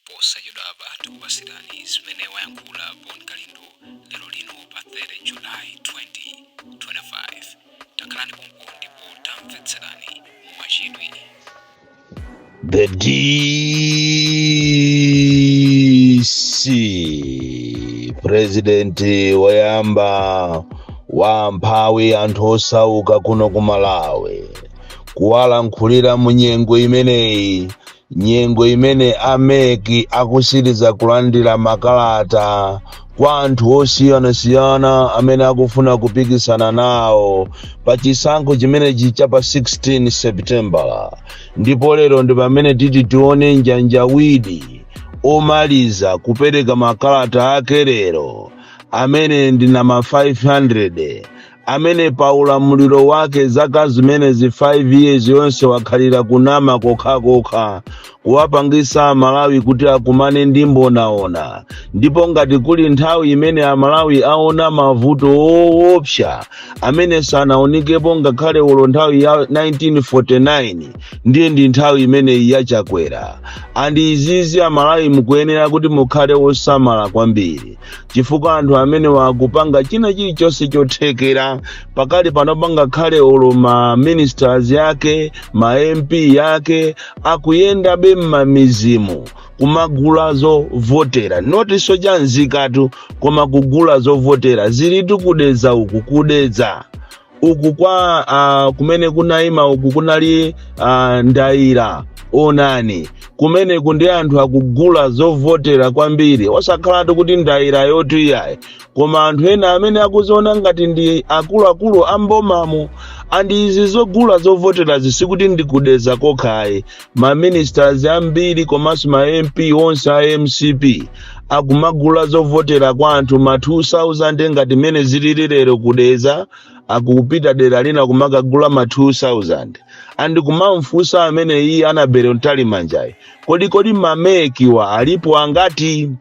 Posachedwapa tikupatsirani zimene wayankhula Bon Kalindo lero lino pa 30 July 2025. Takhalani pompo ndipo tamvetserani mwachidwi. The DC President woyamba wa mphawi anthu osauka kuno ku Malawi kuwalankhulira mu nyengo imeneyi nyengo imene a mec akutsiriza kulandira makalata kwa anthu osiyanasiyana amene akufuna kupikisana nawo pa chisankho chimenechi cha pa 16 seputembala ndipo lero ndi pamene titi tione njanjawidi omaliza kupereka makalata ake lero amene ndi nama 500 amene pa ulamuliro wake zaka zimenezi 5 years yonse wakhalira kunama kokhakokha kuwapangisa amalawi kuti akumane ndi mbonaona ndipo ngati kuli nthawi imene amalawi aona mavuto owopsa amene sanaonikepo ngakhale olo nthawi ya 1949 ndiye ndi nthawi imeneyi ya chakwera andi izizi amalawi mukuyenera kuti mukhale osamala kwambiri chifukwa anthu amenewa akupanga china chilichonse chothekera pakali pano pano ngakhale olo ma ministers yake ma mp yake akuyendabe m'mamidzimu kumagula zovotera not chiphaso cha nzikatu koma kugula zovotera zilitu ku Dedza uku ku Dedza uku kwa uh, kumene kunaima uku kunali uh, ndayira onani kumeneku ndi anthu akugula zovotera kwambiri osakhalatu kuti ndayirayotu iyayi koma anthu ena amene akudziona ngati ndi akuluakulu a mbomamu andi izi zogula zovoterazi sikuti ndi ku Dedza kokha ayi ma ministers ambiri komanso ma mp onse a mcp akumagula zovotera kwa anthu ma 2000 ngati mmene zilili lero ku Dedza akupita dera lina kumakagula ma 2000 andi kumamfunsa amene iye anabere Mtalimanjayi kodi kodi ma mec-wa alipo angati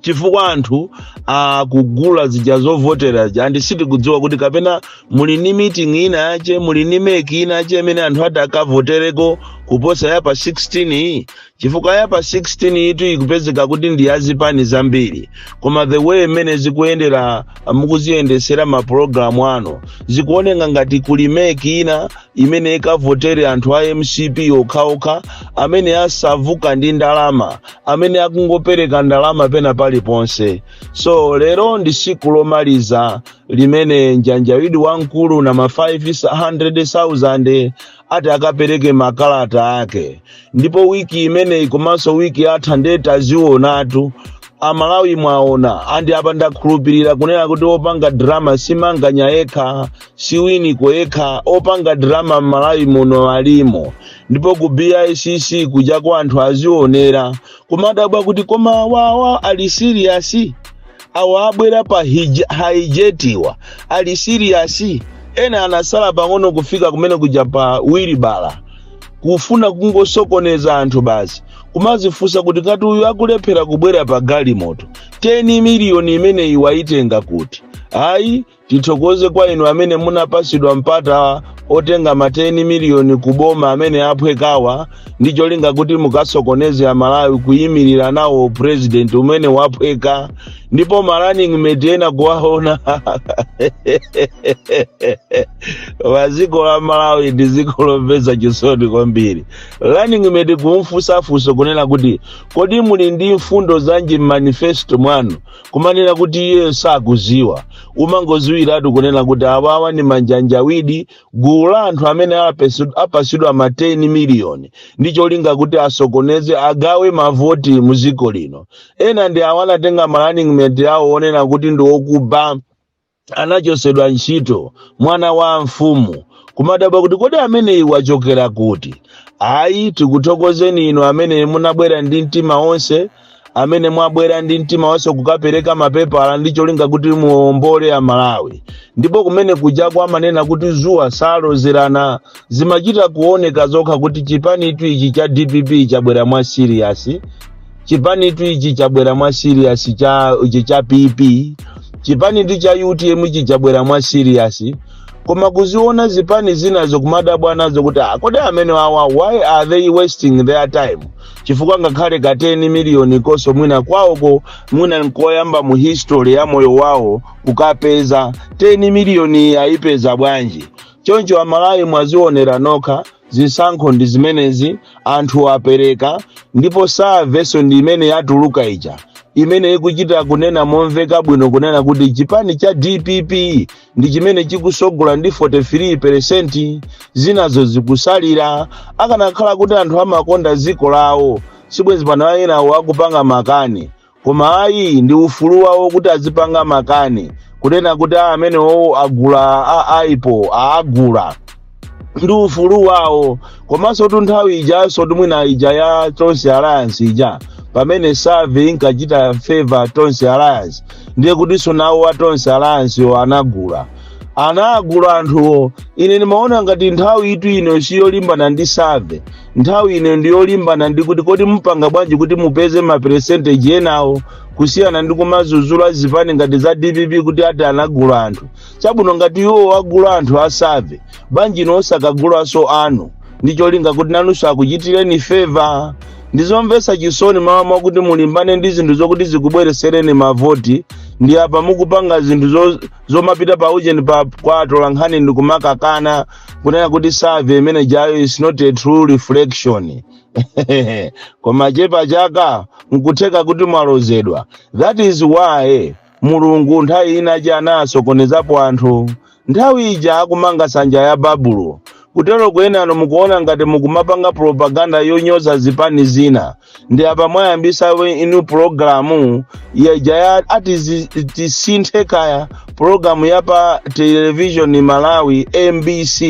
chifukwa anthu akugula zija zovotera zija andi sitikudziwa kuti kapena muli ni meeting ina yache muli ni mec ina yache imene anthu ati akavotereko kuposa ya pa 16 iyi chifukwa ya pa 16 yitu ikupezeka kuti ndi yazipani zambiri koma the way mmene zikuyendera mukuziyendetsera mapulogalamu ano zikuoneka ngati kuli mec ina imene ikavotere anthu a mcp okhaokha amene asauka ndi ndalama amene akungopereka ndalama pena paliponse so lero ndi siku lomaliza limene njanjawidi wamkulu na ma 500,000 ati akapereke makalata ake ndipo wiki imeneyi komanso wiki yatha ndiye tazionatu amalawi mwaona andi apa ndakhulupirira kunena kuti opanga drama si Manganya yekha si Winiko yekha opanga drama mmalawi muno alimo ndipo ku bicc kujako anthu azionera kumadabwa kuti koma awawa ali siriyasi awa abwera pa hij- haijetiwa ali siriyasi ena anasala pang'ono kufika kumene kuja pa wilibala kufuna kungosokoneza anthu basi kumazifunsa kuti ngati uyu akulephera kubwera pa galimoto 10 miliyoni imeneyi wayitenga kuti ayi Tithokoze kwa inu amene munapasidwa mpata otenga ma 10 miliyoni ku boma amene aphwekawa ndi cholinga kuti mukasokoneze amalawi kuyimirira nawo president umene waphweka ndipo ma running mate ena kuwaona wa dziko la malawi ndi dziko lomvetsa chisoni kwambiri running mate kumfunsa funso kunena kuti kodi muli ndi mfundo zanji m'manifesto mwanu kumanena kuti iyeyo sakuziwa umangoziwiratu kunena kuti awawa ndi manjanjawidi gulu la anthu amene apasidwa ma 10 miliyoni ndi cholinga kuti asokoneze agawe mavoti mu dziko lino ena ndi awo anatenga ma running mate awo onena kuti ndi okuba anachosedwa ntchito mwana wa mfumu kumadabwa kuti kodi ameneyi wachokera kuti ayi tikuthokozeni inu amene munabwera ndi mtima onse amene mwabwera ndi mtima onse kukapereka mapepala ndi cholinga kuti muombole amalawi ndipo kumene kujako amanena kuti zuwa salozerana zimachita kuoneka zokha kuti chipanitu ichi cha dpp chabwera mwa siriyasi chipanitu ichi chabwera mwa serious ichi cha pp chipanitu cha utm ichi chabwera mwa serious koma kuziona zipani zinazo kumadabwa nazo kuti "Ah, kodi amene wawa why are they wasting their time chifukwa ngakhale ka 10 miliyoni konso mwina kwawoko mwina nkoyamba mu history ya moyo wawo kukapeza 10 miliyoni ayipeza bwanji choncho amalawi mwazionera nokha Zisankho ndi zimenezi, anthu apereka, ndipo savenso ndi imene yatuluka ija imene ikuchita kunena momveka bwino kunena kuti chipani cha dpp ndi chimene chikusogola ndi 43 peresenti zinazo zikusalira akanakhala kuti anthu amakonda dziko lawo sibwenzi pano enawo akupanga makani koma ayi ndi ufulu wawo kuti azipanga makani kunena kuti amenewo agula a aipo aagula ndi ufulu wawo komanso tu nthawi ijanso mwina ija ya tonse alliance ija pamene survey inkachita favor tonse alliance ndiye kutinso nawo a tonse alliance yo anagula anagula anthuwo ine ndimaona ngati nthawi itu ino siyolimbana ndi survey nthawi ino ndi yolimbana ndi kuti kodi mupanga bwanji kuti mupeze maperesenteji enawo kusiyana ndi kumazuzula zipani ngati za dpp kuti ati anagula anthu chabwino ngati iwo agula anthu a survey bwanji inu osakagulanso anu ndi cholinga kuti nanunso akuchitireni feva ndizomvetsa chisoni malo mwakuti mulimbane ndi zinthu zokuti zikubweresereni mavoti ndi apa mukupanga zinthu zo- zomapita pa ujeni pa kwa atolankhani ndi kumakakana kunena kuti survey imene jayo is not a true reflection koma chepa chaka nkutheka kuti mwalozedwa that is why mulungu nthawi ina ija anasokonezapo anthu nthawi ija akumanga sanja ya babulo kutero kwenanu mukuona ngati mukumapanga propaganda yonyoza zipani zina ndi apa mwayambisa we- inu pulogalamu ija ya ati zi- tisinthe kaya pulogalamu ya pa televishoni malawi mbc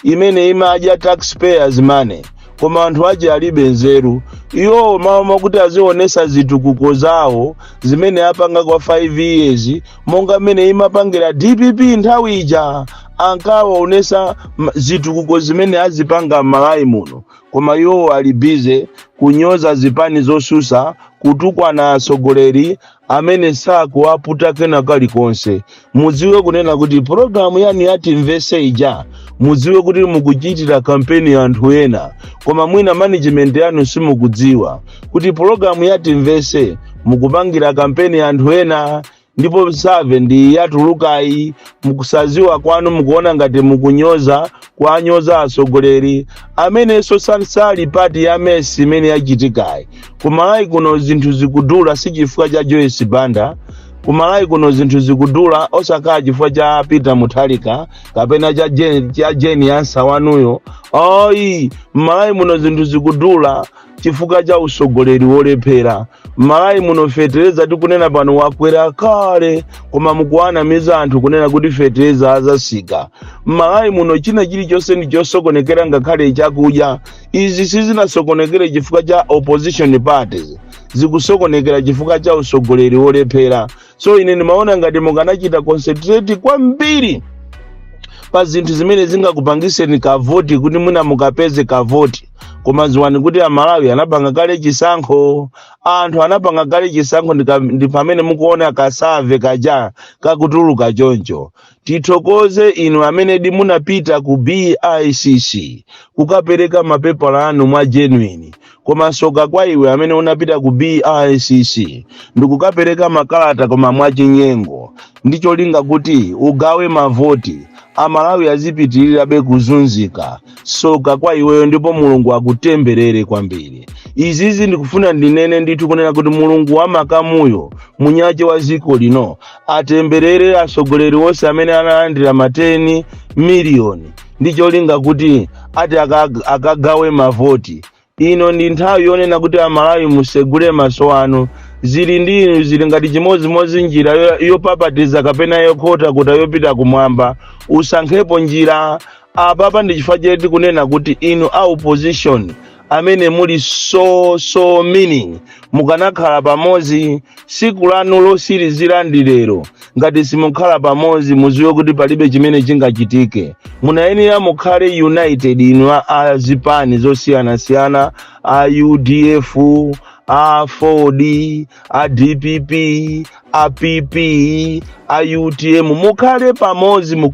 imene imadya taxpayers money koma anthu aja alibe nzeru iwowo malo mwakuti azionesa zitukuko zawo zimene apanga kwa 5 years monga mmene imapangira dpp nthawi ija ankaonesa m- zitukuko zimene azipanga m'malawi muno Koma iwowo ali busy kunyoza zipani zosusa kutukwana atsogoleri amene sakuwaputa kena kalikonse. Mudziwe kunena kuti program yanu ya timvese ija mudziwe kuti mukuchitira kampeni anthu ena koma mwina management yanu simukudziwa kuti program ya timvese mukupangira kampeni anthu ena ndipo survey ndi yatulukayi mukusaziwa kwanu mukuona ngati mukunyoza kuwanyoza atsogoleri amenenso sali part ya mess imene yachitikayi kumalawi kuno zinthu zikudula si chifukwa cha joyce banda kumalawi kuno zinthu zikudula osakhala chifukwa cha peter mutharika kapena cha jeni, cha jane ansah wanuyo ayi mmalawi muno zinthu zikudula chifukwa cha usogoleri wolephera mmalawi muno fetereza tikunena pano wakwera kale koma mukuwanamiza anthu kunena kuti fetereza azasika mmalawi muno china chilichonse ndi chosokonekera ngakhale chakudya izi sizinasokonekere chifukwa cha opposition parties zikusokonekera chifukwa cha usogoleri wolephera so ine ndimaona ngati mukanachita concentrate kwambiri pa zinthu zimene zingakupangitseni kavoti kuti mwina mukapeze kavoti koma ziwani kuti amalawi anapanga kale chisankho anthu anapanga kale chisankho ndi pamene mukuona kasave kaja kakutuluka choncho Tithokoze inu amenedi munapita ku BICC kukapereka mapepala anu mwa genuine koma soka kwa iwe amene unapita ku BICC ndikukapereka makalata koma mwa chinyengo ndi cholinga kuti ugawe mavoti amalawi azipitirirabe kuzunzika soka kwa iweyo ndipo mulungu akutemberere kwambiri izizi ndikufuna ndinene ndithu kunena kuti mulungu wa makamuyo mwinyake wa ziko lino atemberere atsogoleri onse amene analandira mateni miliyoni ndi cholinga kuti ati aka- akagawe mavoti Ino ndi nthawi yonena kuti Amalawi musegule maso anu. Zili ndi inu zili ngati chimodzimodzi njira yopapatiza kapena yokhotakhota yopita kumwamba. Usankhepo njira. Apapa ndi chifukwa chake tikunena kuti inu a opposition amene muli so so meaning mukanakhala pamodzi siku lanu losirizira ndi lero ngati simukhala pamodzi muziwe kuti palibe chimene chingachitike munayenera mukhale united inu a- a zipani zosiyanasiyana a udf aford a dpp a pp a utm mukhale pamodzi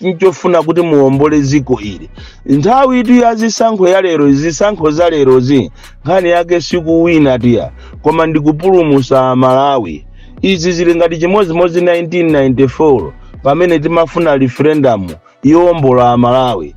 nchofuna kuti muombole dziko ili nthawi iyitu ya zisankho ya lero zisankho za lerozi nkhani yake sikuwina iyayi koma ndikupulumusa malawi izi zili ngati chimodzimodzi 1994 pamene timafuna referendum yowombola amalawi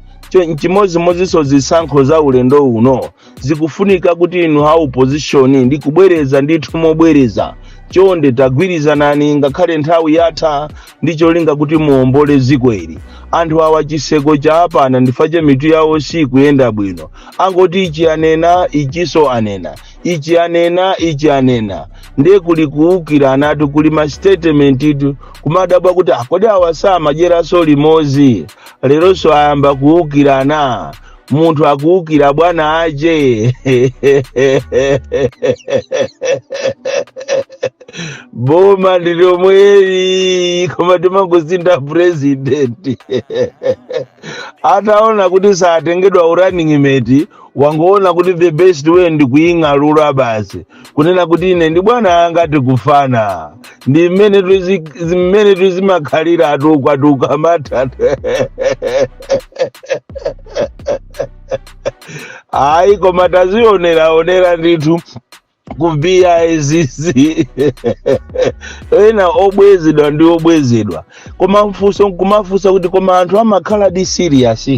nchimodzimodzinso zisankho za ulendo uno zikufunika kuti inu a opposition ndikubwereza ndithu mobwereza chonde tagwirizanani ngakhale nthawi yatha ndi cholinga kuti muombole dziko ili anthu awa chiseko cha apana ndifache mitu yawo sikuyenda bwino angoti ichi anena ichinso anena ichi anena ichi anena ndiye kuli kuwukiranatu kuli masitetementitu kumadabwa kuti kodi awa samadyeraso limodzi leronso ayamba kuwukirana munthu akuwukira bwana ake boma ndilomweli koma timangosinda purezidenti ataona kuti satengedwa urunning mate wangoona kuti the best way ndi kuying'alula basi kunena kuti ine ndi bwana anga tikufanana ndi mmene tuzi- zi- mmene tizimakhalira atuku atuku amatha ayi koma tazioneraonera ndithu kubiya izizi ena obwezedwa ndi obwezedwa koma umafuna nkumafunsa kuti koma anthu amakhala di serious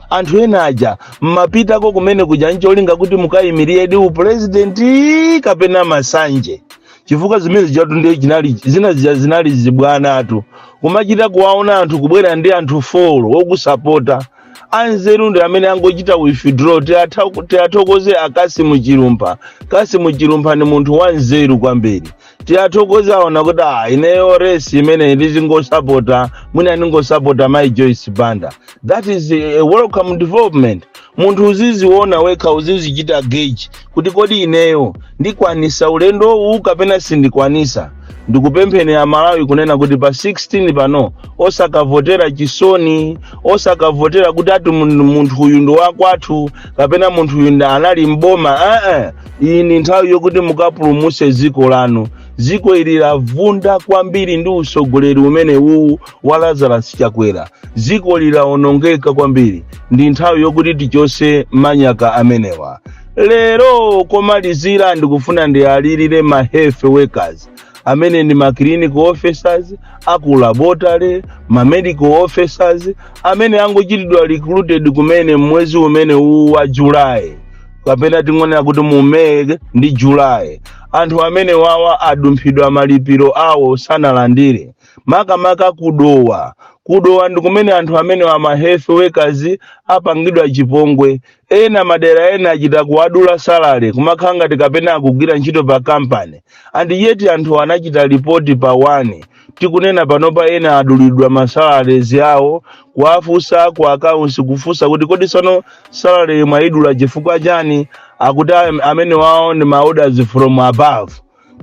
anthu ena aja mmapitako kumene kuja ncholinga kuti mukayimiriredi upulezidenti kapena masanje chifukwa zimene zijatu ndiye chinali zinazi zija zinali zibwanatu kumachita kuwaona anthu kubwera ndi anthu folo okusapota anzeru ndi amene angochita withdraw Tiatha- tiathokoze a Kassim Chilumpha Kassim Chilumpha ndi munthu wanzeru kwambiri tiathokoze aona kuti ah, ineyo resi imeneyi ndizingosapota mwina ndingosapota mai Joyce Banda that is a welcome development munthu uziziona wekha uzizichita gauge kuti kodi ineyo ndikwanisa ulendowu kapena sindikwanisa ndikupempheni aMalawi kunena kuti pa 16 pano osakavotera chisoni osakavotera kuti ati mun- munthu uyu ndi wakwathu kapena munthu uyu ndi anali mboma ee iyi ndi nthawi yokuti mukapulumuse dziko lanu dziko ili lavunda kwambiri ndi utsogoleri umene uwu wa Lazarus Chakwera dziko ili lawonongeka kwambiri ndi nthawi yokuti tichose manyaka amenewa lero komalizira ndikufuna ndiwalirire ma health workers amene ndi ma clinical officers aku laboratory ma medical officers amene angochitidwa recruited kumene mmwezi umene uwu wa July kapena tingonena kuti mu May ndi July anthu amene wawa adumphidwa malipiro awo sanalandire makamaka ku Dowa ku Dowa ndi kumene anthu amenewa ma health workers apangidwa chipongwe ena madera ena achita kuwadula salary kumakhala ngati kapena akugwira ntchito pa kampani and yet anthu anachita lipoti pa wani tikunena panopa ena adulidwa masalarezi awo kuwafunsa ku accounts kufunsa kuti kodi sono salary mwayidula chifukwa chani akuti am- amene wawo ndi maorders from above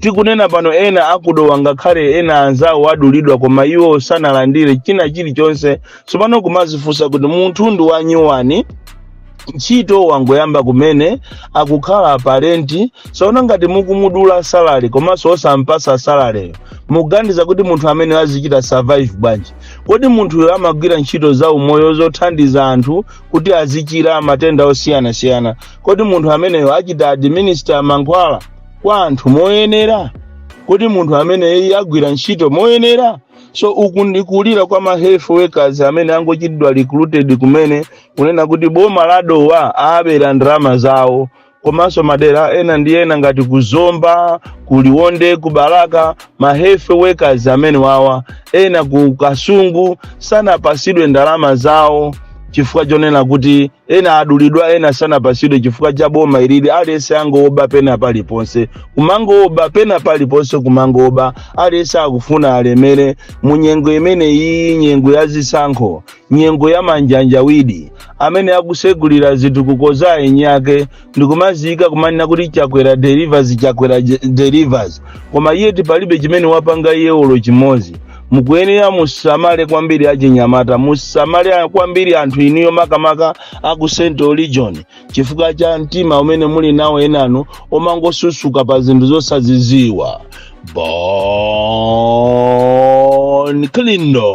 tikunena pano ena aku Dowa ngakhale ena anzawo adulidwa koma iwo sanalandire china chilichonse tsopano kumazifunsa kuti munthu ndi wanyuwani ntchito wangoyamba kumene akukhala pa renti sono ngati mukumudula salary komanso osampasa salareyo mukuganiza kuti munthu ameneyo azichita survive bwanji kodi munthuyo amagwira ntchito za umoyo zothandiza anthu kuti azichira matenda osiyanasiyana kodi munthu ameneyo achita administer mankhwala kwa anthu moyenera kodi munthu ameneyi agwira ntchito moyenera so uku ndi kulira kwa ma health workers amene angochitidwa recruited kumene kunena kuti boma la Dowa abera ndalama zawo komanso madera ena ndi ena ngati ku Zomba ku Liwonde ku Balaka ma health workers amene wawa ena ku Kasungu sanapasidwe ndalama zawo chifukwa chonena kuti ena adulidwa ena sanapasidwe chifukwa cha boma ilili aliyense angooba pena paliponse kumangooba pena paliponse kumangooba aliyense akufuna alemere mu nyengo imene iyi nyengo ya zisankho nyengo ya manjanjawiri amene akusegulira zitukuko za eni ake ndikumaziyika kumanena kuti chakwera delivers chakwera delivers koma yeti palibe chimene wapanga iye olo chimodzi mukuyenera musamale kwambiri achinyamata musamale kwambiri anthu inuyo makamaka aku central region chifukwa cha mtima umene muli nawo enanu omangosusuka pa zinthu zosaziziwa bon kalindo